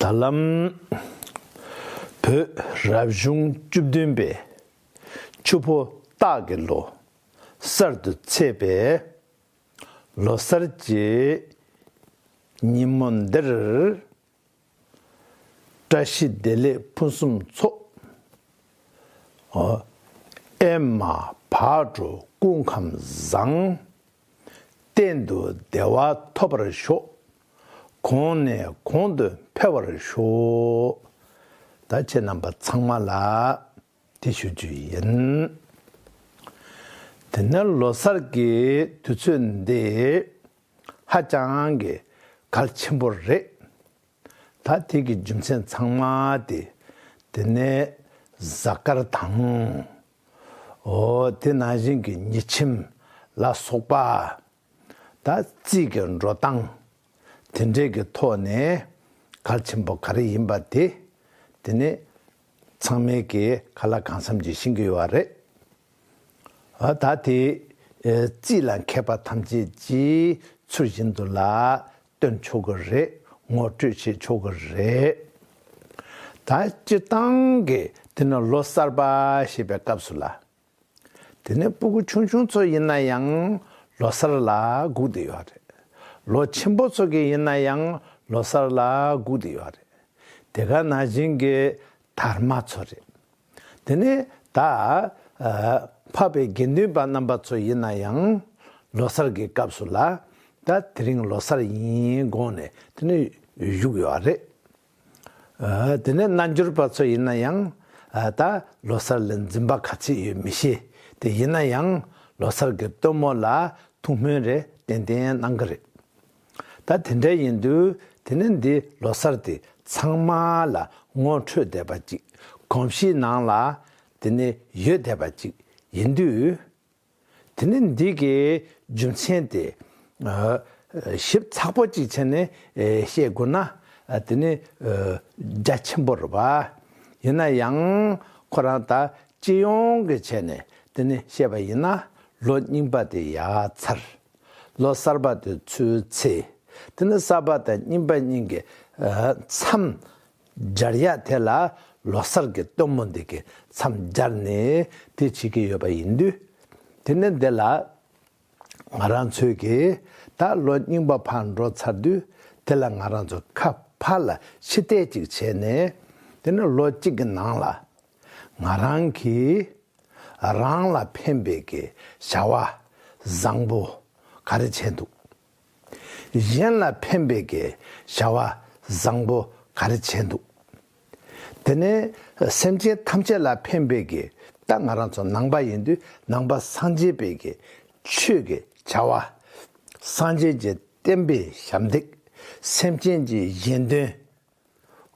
ད་ལམ། བོད་རབ་བྱུང་བཅུ་བདུན་པའི། ཆུ་ཕོ་སྟག་གི་ལོ། གསར་དུ་ཚེས་པའི། ལོ་གསར་གྱི། ཉིན་མོ་འདིར། བཀྲ་ཤིས་བདེ་ལེགས་ཕུན་སུམ་ཚོགས། ཨེ་མ་བག་དྲོ་ཀུན་ཁམས་བཟང། གཏན་དུ་བདེ་བ་ཐོབ་པར་ཤོག། གོང་ནས་གོང་དུ་འཕེལ་བར་ཤོག། ད་ཁྱེད་རྣམ་པ་ཚང་མ་ལ་དེ་ཞུ་རྒྱུ་ཡིན། དེ་ནས་ལོ་སར་གྱི་དུས་ཚོད་འདི་ཧ་ཅང་གི་གལ་ཆེན་པོ་རེད། ད་དེ་གི་རྒྱུ་མཚན་ཚང་མ་དེ་དེ་ནས་གཟའ་སྐར་དང། འོ་དེ་ནང་བཞིན་གྱི་ཉི་ཁྱིམ་ལ་སོགས་པ། ད་རྩིས་ཀྱི་འགྲོ་སྟངས་དེ་འདྲའི་གི་ཐོག་ནས་གལ་ཆེན་པོ་ག་རེ་ཡིན་པ་དེ་དེ་ནི་ཚང་མའི་གི་ག་ལ་གང་བསམ་གྱི་ཤེས་ཀྱི་ཡོད་རེད། འོ་ད་དེ་རྩིས་ལ་མཁས་པ་ཐམས་ཅད་ཀྱིས་ཚུལ་བཞིན་དུ་ལ་སྟོན་ཆོག་གི་རེད་ངོ་སྤྲོད་བྱེད་ཆོག་གི་རེད། ད་སྤྱིར་བཏང་གི་འདི་ནི་ལོ་གསར་པ་ཞེས་པའི་སྐབས་སུ་ལ། དེ་ནས་སྤུ་གུ་ཆུང་ཆུང་ཚོ་ཡིན་ན་ཡང་ལོ་གསར་ལ་སྒུག་བསྡད་ཡོད་རེད། ལོ་ཆེན་པོ་ཚོ་གི་ཡིན་ན་ཡང་ལོ་གསར་ལ་སྒུག་བསྡད་ཡོད་རེད། དེ་ག་ནང་བཞིན་གྱི་དར་མ་ཚོ་རེད། དེ་ནས་ད་འཕགས་པའི་དགེ་འདུན་པ་རྣམ་པ་ཚོ་ཡིན་ན་ཡང་ལོ་སར་གྱི་སྐབས་སུ་ལ་ད་དེ་རིང་ལོ་སར་ཡིན་དགོངས་ནས་དེ་ནས་བཞུགས་ཡོད་རེད། དེ་ནས་རྣལ་འབྱོར་པ་ཚོ་ཡིན་ན་ཡང་ད་ལོ་སར་ལ་འཛིན་པ་ག་ཚོད་ཡོད་མི་ཤེས་དེ་ཡིན་ན་ཡང་ལོ་སར་གྱི་སྟོན་མོ་ལ་ཐུགས་སྨོན་རེ་ཏན་ཏན་གནང་གི་རེད། ད་དེ་འདྲ་ཡིན་དུས་དེ་ནི་འདི་ལོ་གསར་དེ་ཚང་མ་ལ་ངོ་འཕྲོད་བསྡད་པ་ཅིག་གོམས་གཤིས་ནང་ལ་དེ་ནི་ཡོད་བསྡད་པ་ཅིག་ཡིན་དུས། དེ་ནི་འདི་གི་རྒྱུ་མཚན་དེ་ཞིབ་ཚགས་པོ་ཅིག་བྱས་ནས་བཤད་དགོས་ན་དེ་ནི་རྒྱ་ཆེན་པོ་རེད་བ། ཡིན་ན་ཡང་ཁོ་རང་ད་སྤྱི་ཡོངས་ཀྱི་བྱས་ནས་དེ་ནི་བཤད་པ་ཡིན་ན་ལོ་རྙིང་པ་དེ་ཡ་མཚར། ལོ་གསར་པ་དེ་ཚོའི་ཚེ། དེ་ནི་གསར་པ་དང་རྙིང་པ་གཉིས་ཀྱི་མཚམས་སྦྱར་ཡ་དེ་ལ་ལོ་གསར་གྱི་སྟོན་མོ་འདི་གི་མཚམས་སྦྱར་ནས་དེ་བྱེད་ཀྱི་ཡོད་པ་ཡིན་དུས། དེ་ནི་འདི་ལ་ང་རང་ཚོས་ཀྱི་ད་ལོ་རྙིང་པ་ཕར་འགྲོ་ཚར་དུས་དེ་ལ་ང་རང་ཚོས་ཁ་ཕར་ལ་ཕྱི་བལྟས་ཅིག་བྱས་ནས་དེ་ནི་ལོ་གཅིག་གི་ནང་ལ་ང་རང་གིས་རང་ལ་ཕན་པའི་གི་བྱ་བ་བཟང་པོ་ག་རེ་བྱས་འདུག་གཞན་ལ་ཕན་པའི་གི་བྱ་བ་བཟང་པོ་ག་རེ་བྱས་འདུག་དེ་ནས་སེམས་ཅན་ཐམས་ཅད་ལ་ཕན་པའི་གི་ད་ང་རང་ཚོ་ནང་པ་ཡིན་དུས་ནང་པ་སངས་རྒྱས་པའི་གི་ཆོས་གི་བྱ་བ་སངས་རྒྱས་ཀྱི་བསྟན་པའི་ཞབས་འདེགས་སེམས་ཅན་གྱི་གཞན་དོན།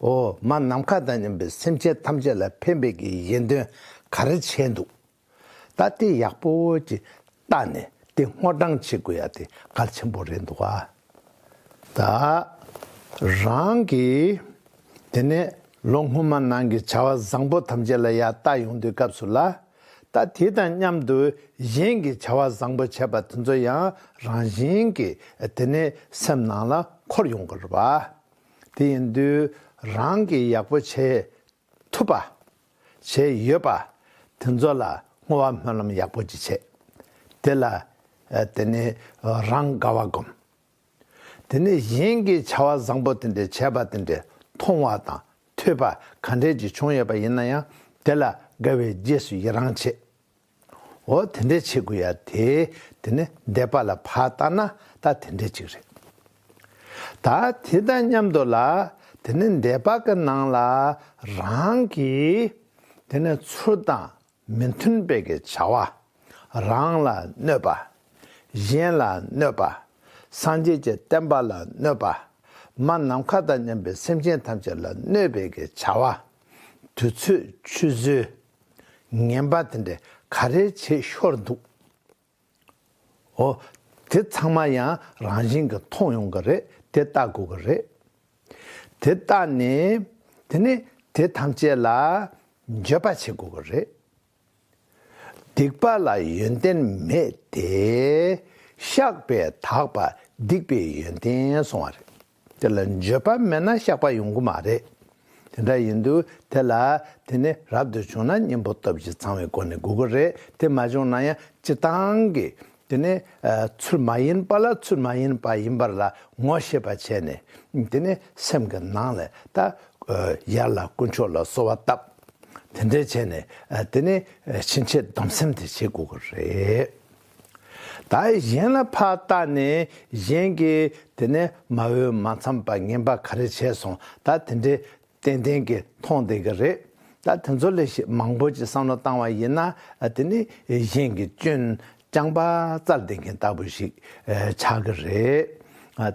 འོ་མ་ནམ་མཁའ་དང་མཉམ་པའི་སེམས་ཅན་ཐམས་ཅད་ལ་ཕན་པའི་གྱི་གཞན་དོན་ག་རེ་བྱས་འདུག་ད་དེ་ཡག་པོ་གྱི་བལྟ་ནས་དེ་སྔོ་སྦྲང་བྱེད་དགོས་ཡ་དེ་གལ་ཆེན་པོ་རེད་འདུག་ད་རང་གི་དེ་ནས་ལོ་སྔོན་མ་ནང་གི་བྱ་བ་བཟང་པོ་ཐམས་ཅད་ལ་ཡ་ལྟ་ཡོང་དུས་སྐབས་སུ་ལ་ད་དེ་དང་མཉམ་དུ་གཞན་གྱི་བྱ་བ་བཟང་པོ་བྱས་པ་དེ་ཚོ་ཡང་རང་བཞིན་གྱི་དེ་ནས་སེམས་ནང་ལ་འཁོར་ཡོང་དགོས་རེད་བ། དེ་ཡིན་དུས་རང་གིས་ཡག་པོ་བྱེད་ཐུབ་པ། བྱས་ཡོད་པ། དེ་ཚོ་ལ་བསྔོ་བ་སྨོན་ལམ་ཡག་པོ་ཅིག་བྱས། དེ་ལ་དེ་ནི་རང་དགའ་བ་སྒོམ། དེ་ནས་གཞན་གྱིས་བྱ་བ་བཟང་པོ་དེ་འདྲ་བྱས་པ་དེ་འདྲ་མཐོང་བ་དང་ཐོས་པ་ག་འདྲས་ཀྱི་བྱུང་ཡོད་པ་ཡིན་ན་ཡང་དེ་ལ་དགའ་བའི་རྗེས་སུ་ཡི་རང་བྱེད། འོ་དེ་འདྲས་བྱེད་དགོས་ཡ་དེ་དེ་ནི་འདས་པ་ལ་ཕར་བལྟ་ན་ད་དེ་འདྲས་ཅིག་རེད། ད་དེ་དང་མཉམ་དུ་ལ་དེ་ནི་འདས་པ་གི་ནང་ལ་རང་གི་དེ་ནི་ཚུལ་དང་མི་མཐུན་པའི་གི་བྱ་བ། རང་ལ་གནོད་པ། གཞན་ལ་གནོད་པ། སངས་རྒྱས་ཀྱི་བསྟན་པ་ལ་གནོད་པ། མ་ནམ་མཁའ་དང་མཉམ་པའི་སེམས་ཅན་ཐམས་ཅད་ལ་གནོད་པའི་གི་བྱ་བ། དུས་ཚོད་ཆུད་ཟོས། ངན་པ་དེ་འདྲས་ག་རེ་བྱེད་ཤོར་འདུག་ཨོ། དེ་ཚང་མ་ཡང་རང་བཞིན་གྱིས་མཐོང་ཡོང་གི་རེད་དེ་ལྟ་དགོས་ཀྱི་རེད། དེ་ལྟ་ནས་དེ་ནས་དེ་ཐམས་ཅད་ལ་འགྱོད་པ་བྱེད་དགོས་ཀྱི་རེད། སྡིག་པ་ལ་ཡོན་ཏན་མེད་དེ། བཤགས་པས་དག་པ་སྡིག་པའི་ཡོན་ཏན་སོང་བ་རེད། དེ་ལ་འགྱོད་པ་མེད་ན་བཤགས་པ་ཡོང་གི་མ་རེད། དེ་འདྲ་ཡིན་དུས་དེ་ལ་དེ་ནི་རབ་ཏུ་བྱུང་ན་གཉེན་པོ་སྟོབས་ཀྱིས་ཚང་བའི་སྒོ་ནས་དགོས་ཀྱི་རེད་དེ་མ་བྱུང་ན་ཡང་སྤྱི་བཏང་གི་དེ་ནི་ཚུལ་མ་ཡིན་པ་ལ་ཚུལ་མ་ཡིན་པ་ཡིན་པར་ལ་ངོ་ཤེས་པ་བྱས་ནས་དེ་ནི་སེམས་ཀྱི་ནང་ལས་ད་ཡར་ལ་དཀོན་མཆོག་ལ་གསོལ་བ་བཏབ། དེ་འདྲ་བྱས་ནས་དེ་ནི་ཕྱིན་ཆད་སྡོམ་སེམས་དེ་བྱེད་དགོས་ཀྱི་རེད། དག་གཞན་ལ་ཕ་བཏགས་ནས་གཞན་གྱི་དེ་ནས་མ་འོས་མ་འཚམས་པ་ངན་པ་ག་རེ་བྱས་སོང་ད་དེ་འདྲའི་ཏན་ཏན་གྱི་མཐོང་བསྡད་ཀྱི་རེད་ད་དེ་ཚོ་ལས་ཞིག་མང་པོ་ཅིག་བསམ་བློ་བཏང་བ་ཡིན་ན་དེ་ནི་གཞན་གྱི་སྐྱོན་རྐྱང་པ་རྩར་བསྡད་མཁན་ལྟ་བུ་ཞིག་ཆགས་ཀྱི་རེད་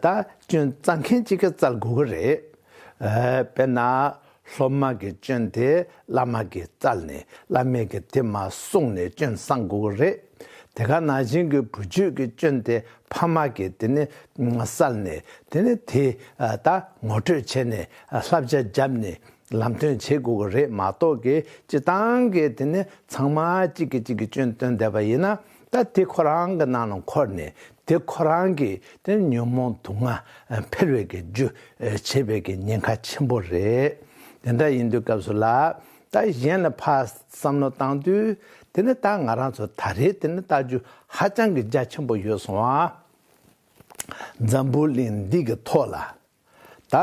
ད་སྐྱོན་རྩ་མཁན་གཅིག་རྩར་དགོས་ཀྱི་རེད་དཔེར་ན་སློབ་མ་གི་སྐྱོན་དེ་བླ་མ་གི་རྩལ་ནི་བླ་མས་གི་དེ་མ་གསུངས་ནས་སྐྱོན་གསང་དགོས་གི་རེད། དེ་ག་ན་བཞིན་གི་བུ་རྒྱུད་གི་སྐྱོན་དེ་ཕ་མ་གི་དེ་ནི་གསལ་ནས་དེ་ནི་དེ་ད་ངོ་སྤྲོད་བྱས་ནས་བསླབ་བྱ་བརྒྱབ་ནས་ལམ་སྟོན་བྱེད་དགོས་གི་རེད་མ་གཏོགས་གི་སྤྱི་བཏང་གི་དེ་ནི་ཚང་མ་གཅིག་གི་གཅིག་གི་སྐྱོན་སྟོན་བསྡད་པ་ཡིན་ན་ད་དེ་ཁོ་རང་གི་ནང་ལ་འཁོར་ནས་དེ་ཁོ་རང་གི་དེ་ཉོན་མོངས་དུག་ལྔ་འཕེལ་བའི་གི་རྒྱུ་བྱེད་པའི་གི་ཉེན་ཁ་ཆེན་པོ་རེད། དེ་འདྲ་ཡིན་དུས་སྐབས་སུ་ལ་ད་གཞན་ལ་ཕ་བསམ་བློ་བཏང་དུས་དེ་ནི་ད་ང་རང་ཚོ་ད་རེས་དེ་ནི་བལྟ་རྒྱུ་ཧ་ཅང་གི་རྒྱ་ཆེན་པོ་ཡོད་སོང་བ། འཛམ་བུ་གླིང་འདི་གི་ཐོག་ལ་ད་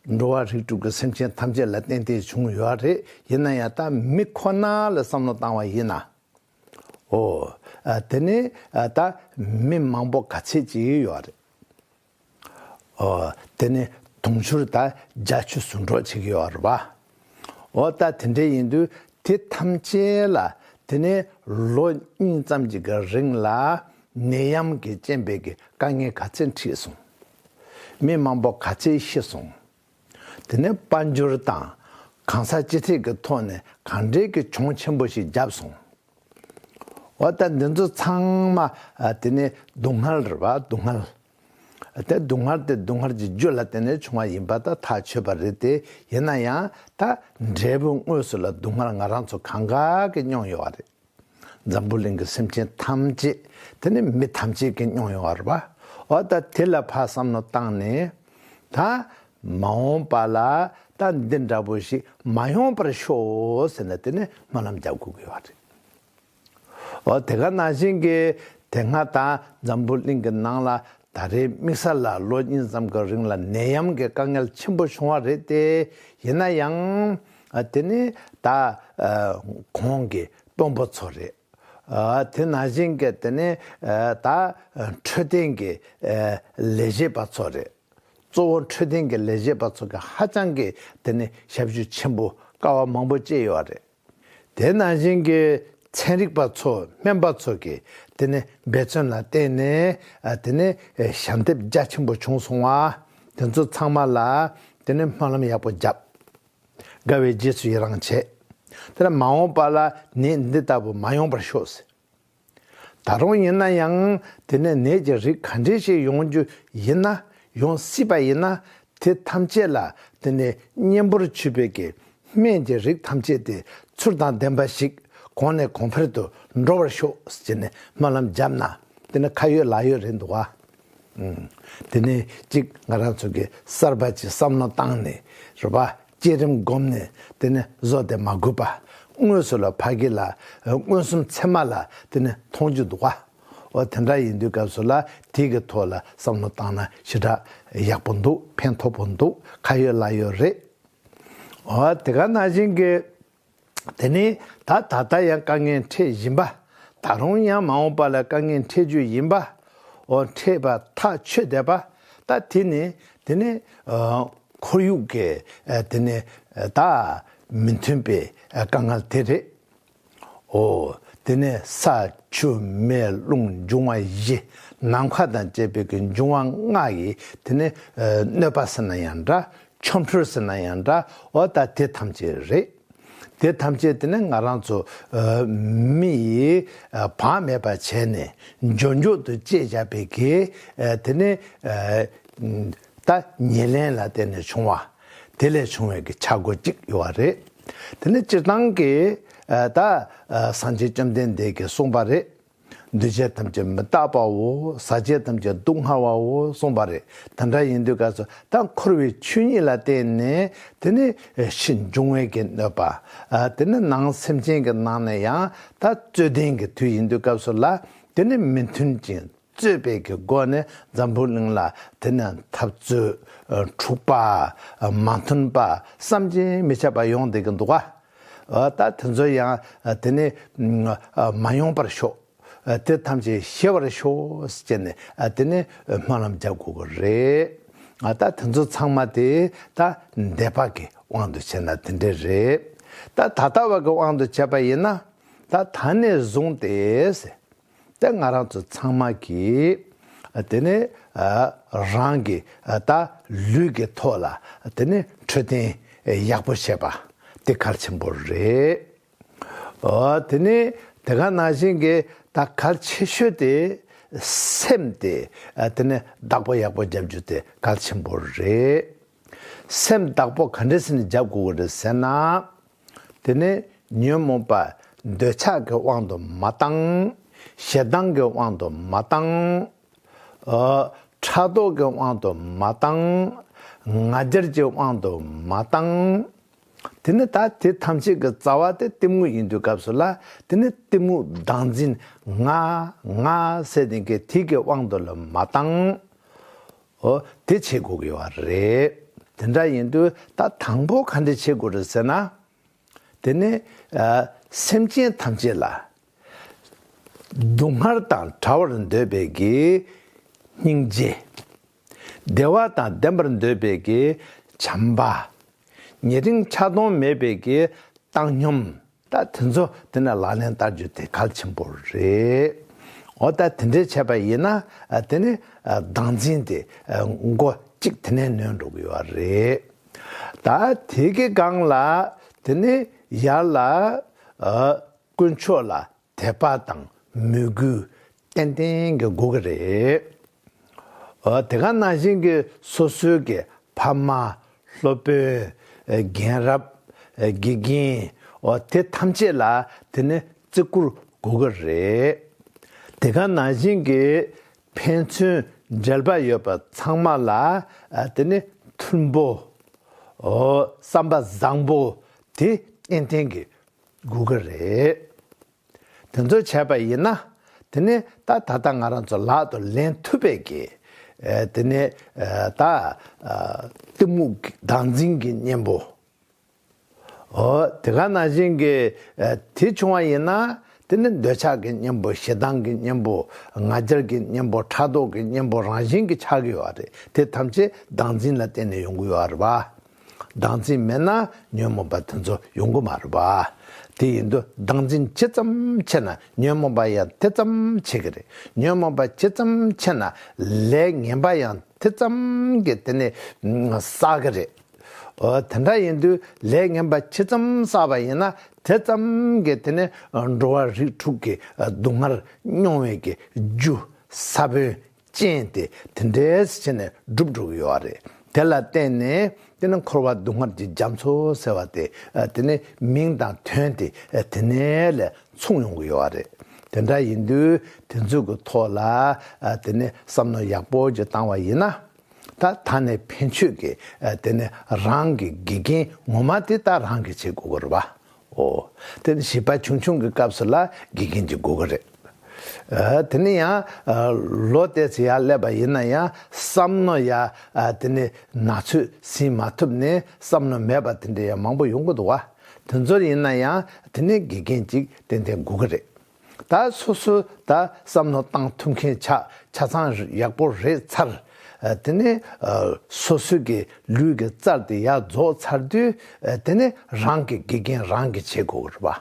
འགྲོ་བ་རིགས་དྲུག་གི་སེམས་ཅན་ཐམས་ཅད་ལ་གཏན་བདེ་བྱུང་ཡོད་རེད་ཡིན་ན་ཡང་ད་མི་ཁོ་ན་ལ་བསམ་བློ་བཏང་བ་ཡིན་ན། ཨོ། དེ་ནི་ད་མི་མང་པོ་ག་ཚད་ཅིག་ཡོད་རེད། ཨོ། དེ་ནི་དུང་ཕྱུར་ད་བརྒྱ་ཆུ་ཟུར་འགྲོ་ཅིག་ཡོད་རེད་བ། ཨོ་ད་དེ་འདྲ་ཡིན་དུས་དེ་ཐམས་ཅད་ལ་དེ་ནི་ལོ་གཉིས་ཙམ་གྱི་རིང་ལ་ནད་ཡམས་ཀྱི་རྐྱེན་པས་ཀྱི་དཀའ་ངལ་ག་ཚད་འཕྲིས་སོང། མི་མང་པོ་ག་ཚད་ཤི་སོང། དེ་ནས་དཔའ་འབྱོར་དང་གང་ཟག་གཅིག་ཐེག་གི་ཐོག་ནས་གང་འདྲའི་གི་གྱོང་ཆེན་པོ་ཞིག་བརྒྱབ་སོང། འོ་ད་འདི་ཚོ་ཚང་མ་དེ་ནི་སྡུག་བསྔལ་རེད་བ་སྡུག་བསྔལ། དེ་སྡུག་བསྔལ་དེ་སྡུག་བསྔལ་གྱི་རྒྱུ་ལ་བརྟེན་ནས་བྱུང་བ་ཡིན་པ་ད་ཐག་ཆོད་པ་རེད་དེ་ཡིན་ན་ཡང་ད་འབྲས་བུ་དངོས་སུ་ལ་སྡུག་བསྔལ་ང་རང་ཚོ་གང་གཱ་གི་མྱོང་ཡོད་བ་རེད། འཛམ་བུ་གླིང་གི་སེམས་ཅན་ཐམས་ཅད་དེ་ནི་མི་ཐམས་ཅད་ཀྱིས་མྱོང་ཡོང་བར་བའོ། ད་དེ་ལ་ཕར་བསམ་བློ་བཏང་ནས་ད་མ་འོངས་པ་ལ་ད་འདི་འདྲ་བོ་ཞིག་མ་ཡོང་པར་ཤོག་ཟེར་ན་དེ་ནི་སྨོན་ལམ་རྒྱག་དགོས་ཀྱི་བ་རེད། ཨོ་དེ་ག་ན་བཞིན་གྱི་དེ་སྔ་ད་འཛམ་བུ་གླིང་གི་ནང་ལ་ད་རེའི་དམིགས་ས་ལ་ལོ་གཉིས་ཙམ་གྱི་རིང་ལ་ནད་ཡམས་ཀྱི་དཀའ་ངལ་ཆེན་པོ་བྱུང་བ་རེད་དེ་ཡིན་ན་ཡང་དེ་ནི་ད་གོང་གི་དཔོན་པོ་ཚོ་རེད། དེ་ན་བཞིན་གྱི་དེ་ནི་ད་འཕྲོད་བསྟེན་གྱི་ལས་བྱེད་པ་ཚོ་རེད། གཙོ་བོ་འཕྲོད་བསྟེན་གྱི་ལས་བྱེད་པ་ཚོ་གི་ཧ་ཅང་གི་དེ་ནི་ཞབས་ཞུ་ཆེན་པོ་དཀའ་བ་མང་པོ་བཅས་ཡོད་རེད། དེ་ན་བཞིན་གྱི་ཚན་རིག་པ་ཚོ་སྨན་པ་ཚོ་གི་དེ་ནི་འབད་བརྩོན་ལ་བརྟེན་ནས་དེ་ནི་ཞབས་འདེབས་རྒྱ་ཆེན་པོ་བྱུང་སོང་བ་དེ་ཚོ་ཚང་མ་ལ་དེ་ནི་སྨོན་ལམ་ཡག་པོ་བརྒྱབ། དགའ་བའི་རྗེས་སུ་ཡི་རང་བྱེད། དེ་ལ་མ་འོངས་པ་ལ་ནད་འདི་ལྟ་བུ་མ་ཡོང་བར་ཤོག། ཟེར། ད་རུང་ཡིན་ན་ཡང་དེ་ནས་ནད་ཀྱི་རིགས་ག་འདྲའི་ཞིག་ཡོང་རྒྱུ་ཡིན་ན་ཡོང་སྲིད་པ་ཡིན་ན་དེ་ཐམས་ཅད་ལ་དེ་ནས་གཉེན་པོར་ཆུད་པའི་གེགས་སྨན་གྱི་རིགས་ཐམས་ཅད་དེ་ཚུར་དང་ལྡན་པ་ཞིག་གོང་ནས་གོང་འཕེལ་དུ་འགྲོ་བར་ཤོག་ཟེར་ནས་སྨོན་ལམ་བརྒྱབ་ན་དེ་ནི་ཁ་ཡོད་ལག་ཡོད་རེད་འདུག་ག། དེ་ནས་གཅིག་ང་རང་ཚོ་གི་གསར་པ་གྱི་བསམ་བློ་བཏང་ནས་རེ་བ་བསྐྱེད་རིམ་བསྒོམ་ནས་དེ་ནས་བཟོ་དེ་མ་དགོས་པ་དངོས་སུ་ལ་ཕ་གི་ལ་མངོན་སུམ་ཚད་མ་ལ་དེ་ནས་མཐོང་རྒྱུ་འདུག་བ། འོ་དེ་འདྲ་ཡིན་དུས་སྐབས་སུ་ལ་དེ་གི་ཐོག་ལ་བསམ་བློ་བཏང་ན་ཞེ་དྲགས་ཡག་པོ་འདུག་ཕན་ཐོགས་པོ་འདུག་ཁ་ཡོད་ལག་ཡོད་རེད། འོ་དེ་ག་ན་བཞིན་གི། དེ་ནི་ད་ད་ལྟ་ཡང་དཀའ་ངལ་འཕྲད་བཞིན་པ། ད་རུང་ཡང་མ་འོངས་པ་ལ་དཀའ་ངལ་འཕྲད་རྒྱུ་ཡིན་པའོ། འཕྲད་པ་ཐག་ཆོད་བསྡད་པ། ད་དེ་ནི་དེ་ནི། ཁོར་ཡུག་གི་དེ་ནི་ད་མི་མཐུན་པའི་དཀའ་ངལ་དེ་རེད། འོ་དེ་ནི་ས་ཆུ་མེ་རླུང་འབྱུང་བ་བཞི་ནམ་མཁའ་དང་བཅས་པའི་གི་འབྱུང་བ་ལྔ་ཡི་དེ་ནི་གནོད་པ་ཟེར་ན་ཡང་འདྲ་ཆོམ་ཕྲུལ་ཟེར་ན་ཡང་འདྲ་འོ་ད་དེ་ཐམས་ཅད་རེད། དེ་ཐམས་ཅད་དེ་ནི་ང་རང་ཚོ་མི་ཡིས་བག་མེད་པ་བྱས་ནས་འབྱོར་འབྱོར་དུ་སྤྱད་བཞག་པའི་གེ་དེ་ནི་ལྟ་ཉེས་ལེན་ལ་བརྟེན་ནས་བྱུང་བ། དེ་ལས་བྱུང་བའི་གེ་ཆག་སྒོ་གཅིག་ཡོད་བ་རེད། དེ་ནི་སྤྱིར་བཏང་གི་ད་སངས་རྒྱས་བཅོམ་ལྡན་འདས་ཀྱིས་གསུངས་པ་རེད། འདུས་བྱས་ཐམས་ཅད་མི་རྟག་པའོ་ཟག་བཅས་ཐམས་ཅད་སྡུག་བསྔལ་བའོ་གསུངས་པ་རེད་དེ་འདྲ་ཡིན་དུས་སྐབས་སུ་ད་འཁོར་བའི་ཆོས་ཉིད་ལ་བརྟེན་ནས་དེ་ནི་ཕྱི་འབྱུང་བའི་གེགས་གནོད་པ། དེ་ནི་ནང་སེམས་ཅན་གྱི་ནང་ནས་ཡང་དག་རྩོད་ལྡན་གྱི་དུས་ཡིན་དུས་སྐབས་སུ་ལ་དེ་ནི་མི་མཐུན་ཅིང་རྩོད་པའི་གི་སྒོ་ནས་འཛམ་བུའི་གླིང་ལ་དེ་ནི་འཐབ་རྩོད། འཁྲུག་པ། མ་མཐུན་པ་བསམ་གྱིས་མི་ཁྱབ་པ་ཡོང་སྡད་ཀྱི་འདུག་ག། ད་དེ་ཚོ་ཡང་དེ་ནས་མ་ཡོང་པར་ཤོག། དེ་ཐམས་ཅད་ཤེས་པར་ཤོག་ཅེས་ནས་དེ་ནས་སྨོན་ལམ་རྒྱག་དགོས་པ་རེད། ད་དེ་ཚོ་ཚང་མ་དེ་ད་འདས་པ་གི་དབང་དུ་བྱས་ན་དེ་འདྲས་རེད། ད་ད་ལྟ་བ་གི་དབང་དུ་བྱས་པ་ཡིན་ན། ད་ད་ནས་བཟུང་སྟེ། དེ་ང་རང་ཚོ་ཚང་མ་གིས་དེ་ནི་རང་གི་ད་ལུས་ཀྱི་ཐོག་ལ་དེ་ནི་འཕྲོད་བསྟེན་ཡག་པོ་བྱེད་པ་དེ་གལ་ཆེན་པོ་རེད། དེ་ནི་དེ་ག་ན་བཞིན་གྱི་ད་གལ་ཆེ་ཤོས་དེ་སེམས་དེ་དེ་ནི་བདག་པོ་ཡག་པོ་བརྒྱབ་རྒྱུ་དེ་གལ་ཆེན་པོ་རེད། སེམས་བདག་པོ་ག་འདྲ་ཟིན་ནས་འཇབ་དགོས་ཀྱི་རེད་ཟེར་ན། དེ་ནི་ཉོན་མོངས་པ་འདོད་ཆགས་ཀྱི་དབང་དུ་མ་བཏང། ཞེ་སྡང་གི་དབང་དུ་མ་བཏང། ཕྲག་དོག་གི་དབང་དུ་མ་བཏང། ང་རྒྱལ་གྱི་དབང་དུ་མ་བཏང། དེ་ནི་ད་དེ་ཐམས་ཅད་ཀྱི་རྩ་བ་དེ་གཏི་མུག་ཡིན་དུས་སྐབས་སུ་ལ་དེ་ནི་གཏི་མུག་བདག་འཛིན་ང་ང་ཟེར་ལྡན་གྱི་དེ་གི་དབང་དུ་ལ་མ་བཏང། ཨོ། དེ་བྱེད་དགོས་ཀྱི་བ་རེད། དེ་འདྲ་ཡིན་དུས་ད་དང་པོ་ག་འདྲ་བྱེད་དགོས་རེད་ཟེར་ན། དེ་ནི། སེམས་ཅན་ཐམས་ཅད་ལ། སྡུག་བསྔལ་དང་བྲལ་བར་འདོད་པའི་དགེ། སྙིང་རྗེ། བདེ་བ་དང་ལྡན་པར་འདོད་པའི་དགེ། བྱམས་པ། ཉེ་རིང་ཆགས་སྡང་མེད་པའི་དགེ། བཏང་སྙོམས། ད་དེ་ཚོ་དེ་ནས་ལག་ལེན་བསྟར་རྒྱུ་དེ་གལ་ཆེན་པོ་རེད། འོ་ད་དེ་འདྲས་བྱས་པ་ཡིན་ན་དེ་ནི་སྡང་འཛིན་དེ་མགོ་གཅིག་དེ་ནས་ནོན་འགྲོ་གི་ཡོད་རེད། ད་དེ་གི་སྒང་ལ་དེ་ནི་ཡར་ལ་དཀོན་མཆོག་ལ་དད་པ་དང་མོས་གུས་ཏན་ཏན་གྱི་དགོས་ཀྱི་རེད། དེ་ག་ནང་བཞིན་གྱི་སོ་སོའི་གི་ཕ་མ། སློབ་དཔོན། རྒན་རབས། དགེ་རྒན། དེ་ཐམས་ཅད་ལ་དེ་ནི་བརྩི་བཀུར་དགོས་ཀྱི་རེད། དེ་ག་ནང་བཞིན་གྱི་ཕན་ཚུན་འབྲེལ་པ་ཡོད་པ་ཚང་མ་ལ་དེ་ནི་མཐུན་པོ། བསམ་པ་བཟང་པོ་དེ་ཏན་ཏན་གྱི་དགོས་ཀྱི་རེད། དེ་ཚོ་བྱས་པ་ཡིན་ན། དེ་ནི་ད་ད་ལྟ་ང་རང་ཚོ་ལག་ཏུ་ལེན་ཐུབ་པས་ཀྱི། དེ་ནི་ད། གཏི་མུག་བདག་འཛིན་གྱི་གཉེན་པོ། ཨོ། དེ་ག་ན་བཞིན་གྱི། དེ་བྱུང་བ་ཡིན་ན། དེ་ནི་འདོད་ཆགས་ཀྱི་གཉེན་པོ་ཞེ་སྡང་གི་གཉེན་པོ། ང་རྒྱལ་གྱི་གཉེན་པོ་ཕྲག་དོག་གི་གཉེན་པོ་རང་བཞིན་གྱི་ཆགས་ཀྱི་ཡོད་རེད་དེ་ཐམས་ཅད་བདག་འཛིན་ལ་བརྟེན་ནས་ཡོང་གི་ཡོད་རེད་བ། སྡང་འཛིན་མེད་ན་ཉོན་མོངས་པ་དེ་ཚོ་ཡོང་གི་མ་རེད་བ། དེ་ཡིན་དུས་སྡང་འཛིན་ཇི་ཙམ་ཆེ་ན་ཉོན་མོངས་པ་ཡང་དེ་ཙམ་ཆེ་གི་རེད། ཉོན་མོངས་པ་ཇི་ཙམ་ཆེ་ན་ལས་ངན་པ་ཡང་དེ་ཙམ་གྱིས་དེ་ནི་བསགས་གི་རེད། དེ་འདྲ་ཡིན་དུས་ལས་ངན་པ་ཇི་ཙམ་བསགས་པ་ཡིན་ན་དེ་ཙམ་གྱིས་དེ་ནི་འགྲོ་བ་རིགས་དྲུག་གི་སྡུག་བསྔལ་མྱོང་བའི་རྒྱུ་ས་བོན་ཅན་དེ་དེ་འདྲས་བྱས་ནས་སྒྲུབ་འགྲོ་གི་ཡོད་བ་རེད། དེ་ལ་བརྟེན་ནས་དེ་ནི་འཁོར་བ་སྡུག་བསྔལ་གྱི་རྒྱ་མཚོ་ཟེར་བ་དེ་དེ་ནི་མིང་དང་དོན་དེ་དེ་ནས་ལས་མཚུངས་ཡོང་གི་ཡོད་བ་རེད། དེ་འདྲ་ཡིན་དུས་དེ་ཚོད་ཀྱི་ཐོག་ལ་དེ་ནི་བསམ་མནོ་ཡག་པོ་ཅིག་བཏང་བ་ཡིན་ན། ད་ད་ནས་ཕན་ཆོད་ཀྱི་དེ་ནི་རང་གི་དགེ་རྒན་ངོ་མ་དེ་ད་རང་གིས་བྱེད་དགོས་གི་རེད་བ། ཨོ། དེ་ནི་བྱིས་པ་ཆུང་ཆུང་གི་སྐབས་སུ་ལ་དགེ་རྒན་གྱི་དགོས་གལ་རེད། དེ་ནི་ཡང་ལོ་བལྟས་ཚེ་ཡང་ཀླད་པ་ཡིན་ན་ཡང་བསམ་མནོ་ཡ་དེ་ནི་ན་ཚོད་ཟིན་མ་ཐུབ་ནས་བསམ་མནོ་མེད་པ་དེ་འདྲ་ཡང་མང་པོ་ཡོང་གི་འདུག་བ། དེ་ཚོར་ཡིན་ན་ཡང་དེ་ནི་དགེ་རྒན་གཅིག་ཏན་ཏན་དགོས་གི་རེད། ད་སོ་སོའི་ད་བསམ་བློ་བཏང་ཐུབ་མཁན་ཆ་ཆ་ཚང་ཡག་པོ་རེད་ཚར། དེ་ནས་སོ་སོའི་གི་ལུས་གི་རྩར་དེ་ཡག་རྫོགས་ཚར་དུས་དེ་ནས་རང་གི་དགེ་རྒན་རང་གི་བྱེད་དགོས་རེད་པ།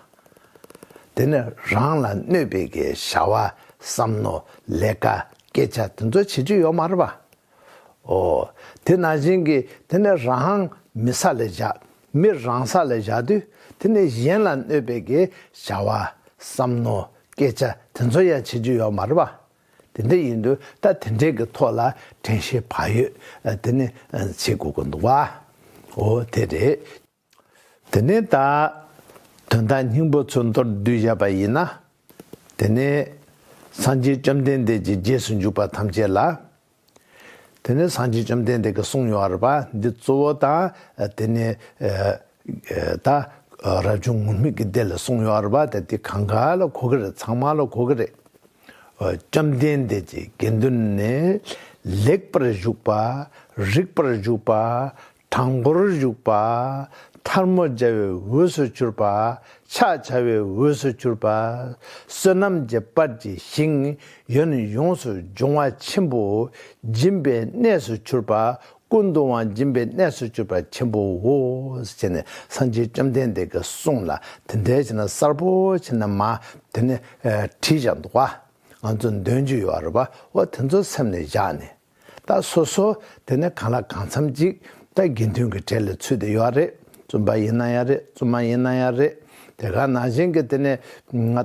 དེ་ནས་རང་ལ་གནོད་པའི་གི་བྱ་བ་བསམ་བློ་ལས་ཀ་སྐད་ཆ་དེ་ཚོ་བྱེད་ཀྱི་ཡོད་མ་རེད་པ། ཨོ། དེ་ན་བྱིན་གྱིས་དེ་ནས་རང། མི་ས་ལས་བྱ། མི་རང་ས་ལས་བྱ་དུས་དེ་ནས་གཞན་ལ་གནོད་པའི་གེ་བྱ་བ། བསམ་མནོ། སྐད་ཆ་དེ་ཚོ་ཡང་བྱེད་རྒྱུ་ཡོད་མ་རེད་པ། དེ་འདྲ་ཡིན་དུས་ད་དེ་འདྲའི་གི་ཐོག་ལ་དྲན་ཤེས་བག་ཡོད་དེ་ནས་བྱེད་དགོས་ཀྱི་འདུག་བ། ཨོ་དེ་རེད། དེ་ནས་ད། དོན་དག་སྙིང་པོ་ཚུལ་མདོར་བསྡུས་བཞག་པ་ཡིན་ན། དེ་ནི། སངས་རྒྱས་བཅོམ་ལྡན་འདས་ཀྱི་རྗེས་སུ་འཇུག་པ་ཐམས་ཅད་ལ། དེ་ནི་སངས་རྒྱས་བཅོམ་ལྡན་འདས་ཀྱི་གསུང་ཡོང་བར་པ་འདི་གཙོ་བོ་དང། དེ་ནི། ད། རབ་བྱུང་ངུར་སྨྲིག་གི་སྡེ་ལ་གསུང་ཡོང་བར་པ་ད་འདི་གང་ག་ལ་གོ་གི་རེད་ཚང་མ་ལ་གོ་གི་རེད། བཅོམ་ལྡན་འདས་ཀྱི་དགེ་འདུན་ནི། ལེགས་པར་བཞུགས་པ། རིགས་པར་བཞུགས་པ། དྲང་པོར་བཞུགས་པ། ཐར་མོ་སྦྱར་བའི་འོས་སུ་གྱུར་པ། ཕྱག་བྱ་བའི་འོས་སུ་གྱུར་པ། བསོད་ནམས་ཀྱི་སྤར་གྱི་ཞིང། ཡོན་ཡོངས་སུ་སྦྱོང་བ་ཆེན་པོ། སྦྱིན་པའི་གནས་སུ་གྱུར་པ། ཀུན་ཏུ་དབང་སྦྱིན་པའི་གནས་སུ་གྱུར་པ་ཆེན་པོའོ། ཞེས་ནས་སངས་རྒྱས་བཅོམ་ལྡན་འདས་ཀྱི་གསུང་ལ་དེ་འདྲའི་ཕྱིར་ན་གསར་བུ་ཆེ་ན་མ་དེ་ནི་བྲིས་བཞག་འདུག་བ། ང་ཚོ་འདོན་རྒྱུ་ཡོད་རེད་བ། འོ་དེ་ཚོ་སེམས་ནས་བཞག་ནས། ད་སོ་སོ་དེ་ནས་གང་ལ་གང་འཚམ་ཅིག་ད་དགེ་འདུན་གྱི་གྲལ་ལ་ཚུད་དེ་ཡོད་རེད་བཙུན་པ་ཡིན་ན་ཡང་རེད་བཙུན་མ་ཡིན་ན་ཡང་རེད་དེ་ག་ནང་བཞིན་གྱི་དེ་ནས་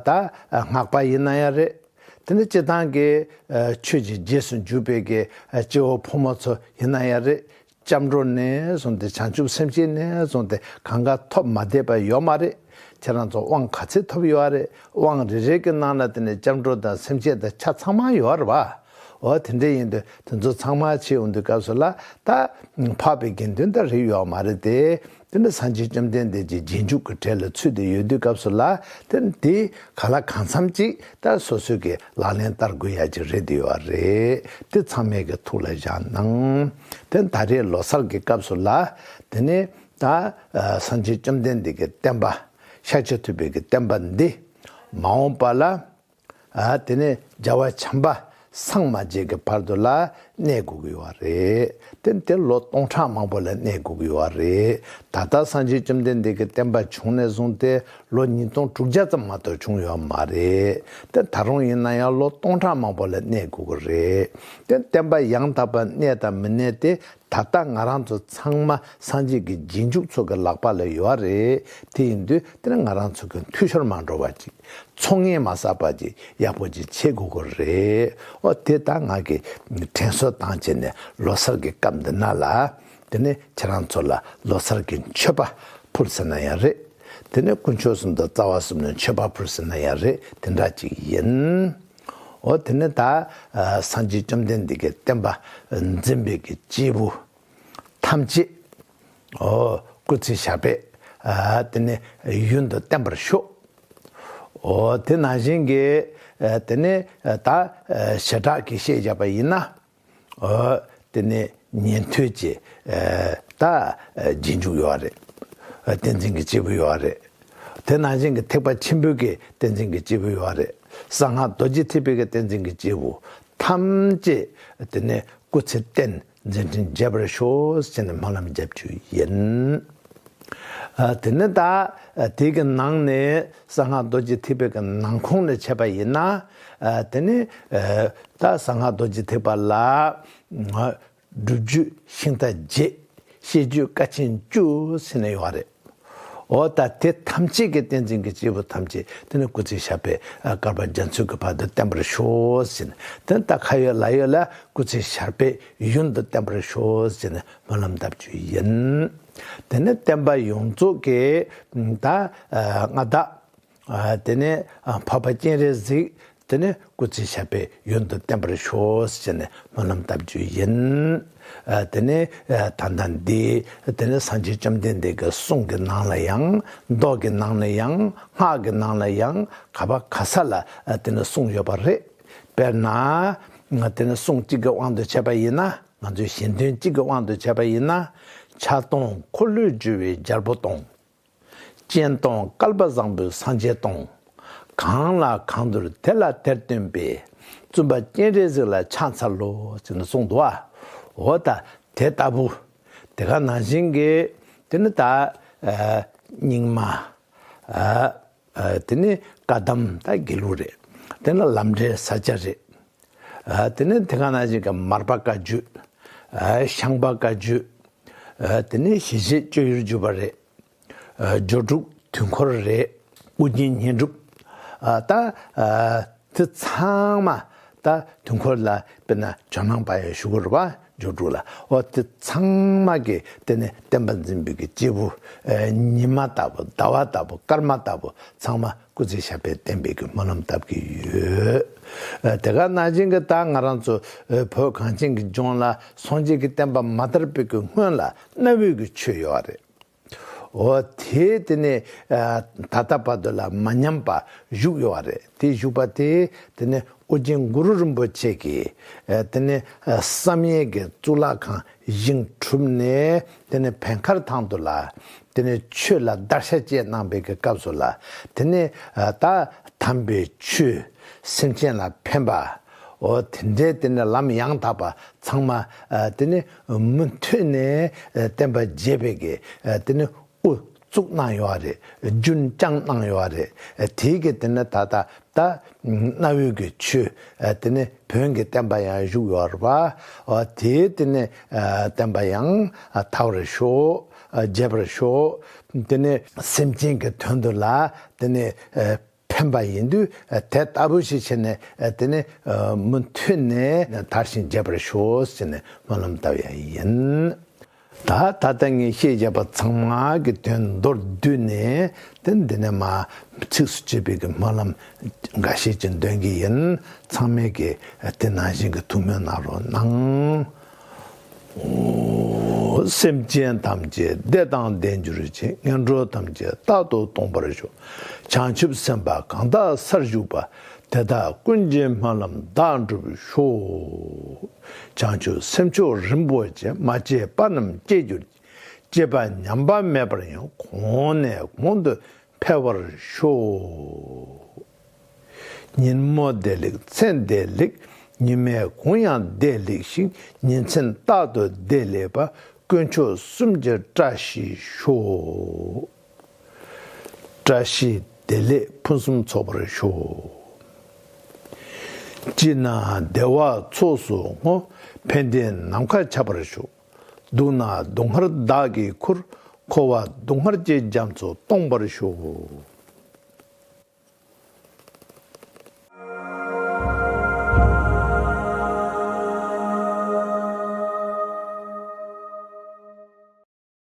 ད་སྔགས་པ་ཡིན་ན་ཡང་རེད་དེ་ནས་སྤྱི་དང་གི་ཆོས་ཀྱི་རྗེས་སུ་འཇུག་པའི་གྱི་སྐྱེ་བོ་ཕོ་མོ་ཚོ་ཡིན་ན་ཡང་རེད་སྐྱབས་འགྲོ་ནས་བཟུང་སྟེ་བྱང་ཆུབ་སེམས་ཅན་ནས་བཟུང་སྟེ་གང་ག་ཐོབ་མ་བསྡད་པ་ཡོད་མ་རེད། ཁྱེད་རང་ཚོ་དབང་ག་ཚད་ཐོབ་ཡོད་རེད་དབང་རེ་རེ་གི་ནང་ན་དེ་ནས་སྐྱབས་འགྲོ་དང་སེམས་ཅན་དང་ཆ་ཚང་མ་ཡོད་རེད་བ། འོ་དེ་འདྲ་ཡིན་དུས་དེ་ཚོ་ཚང་མ་ཕྱིར་འོང་དུས་སྐབས་སུ་ལ་ད། འཕགས་པའི་དགེ་འདུན་དག་རེད་ཡོད་མ་རེད་དེ། དེ་འདྲ་སངས་རྒྱས་བཅོམ་ལྡན་འདས་ཀྱི་རྗེས་འཇུག་གི་གྲས་ལ་ཚུད་དེ་ཡོད་དུས་སྐབས་སུ་ལ་དེ་དེ་ག་ལ་གང་འཚམ་ཅིག་ལྟར་སོ་སོས་ཀྱི་ལག་ལེན་བསྟར་དགོས་ཡ་ཅིག་རེད་འདུལ་བ་རེད་དེ་ཚང་མས་ཀྱི་ཐུགས་ལ་བཞག་གནང། དེ་ད་རེས་ལོ་སར་གྱི་སྐབས་སུ་ལ་དེ་ནི་ད་སངས་རྒྱས་བཅོམ་ལྡན་འདས་ཀྱི་བསྟན་པ་ཤར་ཕྱོགས་ཐུབ་པའི་ཀྱི་བསྟན་པ་འདི་མ་འོངས་པ་ལ། དེ་ནས་རྒྱལ་བ་བྱམས་པ་སངས་མ་རྒྱས་ཀྱི་བར་དུ་ལ་གནས་དགོས་ཀྱི་བ་རེད། དེ་དེར་ལོ་སྟོང་ཕྲག་མང་པོ་ལ་གནས་དགོས་ཀྱི་བ་རེད། ད་ལྟ་སངས་རྒྱས་བཅོམ་ལྡན་འདས་ཀྱི་བསྟན་པ་བྱུང་ནས་བཟུང་སྟེ་ལོ་ཉིས་སྟོང་དྲུག་བརྒྱ་ཙམ་མ་གཏོགས་བྱུང་ཡོད་མ་རེད། དེ་ད་རུང་ཡིན་ན་ཡང་ལོ་སྟོང་ཕྲག་མང་པོ་ལ་གནས་དགོས་ཀྱི་རེད། དེ་བསྟན་པ་ཡང་དག་པར་གནས་དང་མི་གནས་དེ་ད་ལྟ་ང་རང་ཚོ་ཚང་མ་སངས་རྒྱས་ཀྱི་རྗེས་འཇུག་ཚོ་གི་ལག་པ་ལ་ཡོད་རེད་དེ་ཡིན་དུས་དེ་ནི་ང་རང་ཚོ་གི་འཐུས་ཤོར་མ་འགྲོ་བ་ཅིག་ཚོ་ངན་མ་བསགས་པ་ཅིག་ཡག་པོ་ཅིག་བྱེད་དགོས་གི་རེད་འོ་དེ་ད་ང་གི་དྲན་གསོ་དང་བཅས་ནས་ལོ་སར་གི་སྐབས་འདི་ན་ལ་དེ་ནི་ཁྱེད་རང་ཚོ་ལ་ལོ་སར་གི་མཆོད་པ་ཕུལ་ཟེར་ན་ཡང་རེད་དེ་ནི་དཀོན་མཆོག་གསུམ་དང་རྩ་བ་གསུམ་ལ་མཆོད་པ་ཕུལ་ཟེར་ན་ཡང་རེད་དེ་འདྲ་ཅིག་ཡིན། འོ་དེ་ནས་ད་སངས་རྒྱས་བཅོམ་ལྡན་འདས་ཀྱི་བསྟན་པ་འཛིན་པའི་གྱི་སྐྱེས་བུ་ཐམས་ཅད་འོ་སྐུ་ཚེ་ཞག་པས་དེ་ནས་ཡུན་དུ་བརྟན་པར་ཤོག། འོ་དེ་ནང་བཞིན་གྱི་དེ་ནས་ད་བྱེ་བྲག་གིས་བཤད་བྱ་བ་ཡིན་ན། དེ་ནས་ཉན་ཐོས་ཀྱི་ད་རྗེས་འཇུག་ཡོད་རེད། བསྟན་འཛིན་གྱི་སྐྱེས་བུ་ཡོད་རེད། དེ་ནང་བཞིན་གྱི་ཐེག་པ་ཆེན་པོའི་གྱི་བསྟན་འཛིན་གྱི་སྐྱེས་བུ་ཡོད་རེད། གསང་སྔགས་རྡོ་རྗེ་ཐེག་པའི་གྱི་བསྟན་འཛིན་གྱི་སྐྱེས་བུ་ཐམས་ཅད་དེ་ནས་སྐུ་ཚེ་བསྟན་འཛིན་བྲིན་རྒྱས་པར་ཤོག་ཅེས་ནས་སྨོན་ལམ་བརྒྱབ་རྒྱུ་ཡིན། དེ་ནས་ད་དེའི་གྱི་ནང་ནས་གསང་སྔགས་རྡོ་རྗེ་ཐེག་པའི་གྱི་ནང་ཁོང་ནས་འཆད་པ་ཡིན་ན། དེ་ནས་རྟ་ཟ་སྔགས་རྡོ་རྗེ་ཐེག་པ་ལ། སྒྲུབ་བརྒྱུད་ཤིང་རྟ་བརྒྱད། བཤད་རྒྱུད་བཀའ་ཆེན་བཅུ། ཟིན་ནས་ཡོང་བ་རེད། འོ་ད་དེ་ཐམས་ཅད་ཀྱི་བསྟན་འཛིན་གྱི་སྐྱེས་བུ་ཐམས་ཅད་དེ་ནས་སྐུ་ཚེ་ཞབས་པད་བསྐལ་པ་རྒྱ་མཚོའི་གྱི་བར་དུ་བརྟན་པར་ཤོག་ཟེར་ནས་དེ་ནས་ད་ཁ་ཡོད་ལག་ཡོད་ལ་སྐུ་ཚེ་ཞར་པད་ཡུན་དུ་བརྟན་པར་ཤོག་ཟེར་ནས་སྨོན་ལམ་གདབ་རྒྱུ་ཡིན། དེ་ནས་བསྟན་པ་ཡོངས་རྫོགས་ཀྱི་ད་སྔ་བདག། དེ་ནས་འཕགས་པ་སྤྱན་རས་གཟིགས་དེ་ནས་སྐུ་ཚེ་ཞབས་པད་ཡུན་དུ་བརྟན་པར་ཤོག་ཅེས་ནས་སྨོན་ལམ་བཏབ་རྒྱུ་ཡིན། དེ་ནས་ད་ལྟ་འདི་དེ་ནས་སངས་རྒྱས་བཅོམ་ལྡན་འདས་ཀྱི་གསུང་གི་ནང་ལ་ཡང་མདོ་གི་ནང་ལ་ཡང་སྔགས་ཀྱི་ནང་ལ་ཡང་ག་བ་ག་ས་ལ་དེ་ནས་གསུངས་ཡོད་པ་རེད། དཔེར་ན། དེ་ནས་གསུང་གཅིག་གི་དབང་དུ་བྱས་པ་ཡིན་ན་ང་ཚོས་གཞན་དོན་གཅིག་གི་དབང་དུ་བྱས་པ་ཡིན་ན། ཆགས་སྡང་འཁོར་ལོས་སྒྱུར་བའི་རྒྱལ་པོ་དང། སྤྱན་སྟོང་བསྐལ་པ་བཟང་པོའི་སངས་རྒྱས་སྟོང། གང་ལ་གང་འདུལ་དེ་ལ་དེར་སྟོན་པའི། བཙུན་པ་སྤྱན་རས་གཟིགས་ལ་ཕྱག་འཚལ་ལོ། ཅེས་གསུངས། འདུ་བ་དང་དེ་ལྟ་བུ། དེ་ག་ནང་བཞིན་གྱི། དེ་ནི་དག། སྙིགས་མ། དེ་ནི་བཀའ་གདམས་དང་དགེ་ལུགས་རེད། དེ་ནི་ལམ་འབྲས་ས་སྐྱ་རེད། དེ་ནི་དེ་ག་ན་ཞིག་གི་མར་པ་བཀའ་བརྒྱུད། ཤངས་པ་བཀའ་བརྒྱུད། དེ་ནི་ཞི་བྱེད་སྤྱོད་ཡུལ་བརྒྱུད་པ་རེད། སྦྱོར་དྲུག་དུས་འཁོར་རེད། དབུ་རྒྱན་བསྙེན་སྒྲུབ་དང། དེ་ཚང་མ་ད་དུས་འཁོར་ལ་དཔེར་ན་ཇོ་ནང་པ་ཡི་ཞུ་སྒོར་བ་ཇོ་དྲུག་ལ་ཨོ་དེ་ཚང་མ་གི་དེ་ནི་བསྟན་པ་འཛིན་པའི་གི་སྐྱེས་བུ་ཉི་མ་ལྟ་བུ་ཟླ་བ་ལྟ་བུ་སྐར་མ་ལྟ་བུ་ཚང་མ་སྐུ་ཚེ་ཞབས་པད་བརྟན་པའི་གི་སྨོན་ལམ་བཏབ་གི་ཡོད། དེ་ག་ན་བྱིན་གི་ད་ང་རང་ཚོ་བོད་གངས་ཅན་གི་ལྗོངས་ལ་སངས་རྒྱས་ཀི་བསྟན་པ་མ་དར་བའི་གི་སྔོན་ལ་གནའ་བོའི་གི་ཆོས་ཡོད་རེད། འོ་དེས་དེ་ནས་ད་ལྟ་བར་དུ་ལ་མ་ཉམས་པ་བཞུགས་ཡོད་བ་རེད་དེ་བཞུགས་པ་དེས་དེ་ནས་ཨོ་རྒྱན་གུ་རུ་རིན་པོ་ཆེ་གིས་དེ་ནས་བསམ་ཡས་ཀྱི་གཙུག་ལག་ཁང་བཞེངས་གྲུབ་ནས་དེ་ནས་བན་མཁར་ཐང་དུ་ལ་དེ་ནས་ཆོས་ལ་བདར་ཤ་བཅས་གནང་བའི་གི་སྐབས་སུ་ལ་དེ་ནས་ད་དམ་པའི་ཆོས་སེམས་ཅན་ལ་ཕན་པ་འོ་དེ་འདྲའི་དེ་ནས་ལམ་ཡང་དག་པ་ཚང་མ་དེ་ནས། མུ་མཐུད་ནས་བསྟན་པ་རྒྱས་པའི་གི་དེ་ནི་ཨུ་ཚུགས་གནང་ཡོད་བ་རེད་རྒྱུན་བསྐྱངས་གནང་ཡོད་བ་རེད་དེའི་གི་དེ་ནི་ད་ལྟ་ད་གནའ་བོའི་གི་ཆོས་དེ་ནི་བོན་གི་བསྟན་པ་ཡང་བཞུགས་ཡོད་བ་དེའི་དེ་ནི་བསྟན་པ་ཡང་དར་བར་ཤོག་རྒྱས་པར་ཤོག་དེ་ནི་སེམས་ཅན་གི་དོན་དུ་ལ་དེ་ནི། ཕན་པ་ཡིན་དུས་དེ་ལྟ་བུ་ཞིག་བྱས་ནས་དེ་ནི་མུ་མཐུད་ནས་དར་ཞིང་རྒྱས་པར་ཤོག་ཅེས་ནས་སྨོན་ལམ་བཏབ་ཡ་ཡིན། ད་ད་ལྟ་ངས་བཤད་བཞག་པ་ཚང་མ་གི་དོན་མདོར་བསྡུས་ནས་དེ་འདི་ནས་མ་ཚིགས་སུ་བཅད་པའི་གི་སྨོན་ལམ་འགའ་ཤས་ཀྱི་འདོན་གི་ཡིན་ཚང་མས་གི་དེ་ནང་བཞིན་གི་ཐུགས་སྨོན་གནང་རོགས་གནང། སེམས་ཅན་ཐམས་ཅད་བདེ་དང་ལྡན་གྱུར་ཅིག་ངན་འགྲོ་ཐམས་ཅད་རྟག་ཏུ་སྟོངས་པར་ཤོག་བྱང་ཆུབ་སེམས་དཔའ་གང་དག་སར་བཞུགས་པ་དེ་དག་ཀུན་གྱི་སྨོན་ལམ་དག་འགྲུབ་ཤོག། བྱང་ཆུབ་སེམས་མཆོག་རིན་པོ་ཆེ་མ་སྐྱེས་པ་རྣམས་སྐྱེ་གྱུར་ཅིག་སྐྱེས་པ་ཉམས་པ་མེད་པར་ཡང་གོང་ནས་གོང་དུ་འཕེལ་བར་ཤོག། ཉིན་མོ་བདེ་ལེགས་མཚན་བདེ་ལེགས་ཉི་མའི་གུང་ཡང་བདེ་ལེགས་ཤིང་ཉིན་མཚན་རྟག་ཏུ་བདེ་ལེགས་པ་དཀོན་མཆོག་གསུམ་གྱི་བཀྲ་ཤིས་ཤོག། བཀྲ་ཤིས་བདེ་ལེགས་ཕུན་སུམ་ཚོགས་པར་ཤོག། སྐྱིད་སྣང་བདེ་བ་ཚོགས་སུ་བསྔོ་ཕན་བདེ་ནམ་མཁའ་ཁྱབ་པར་ཤོག། བསྡུ་ན་སྡུག་བསྔལ་བདག་གིས་ཁུར། འཁོར་བ་སྡུག་བསྔལ་བསྐྱེད་རྒྱ་མཚོ་སྟོངས་པར་ཤོག།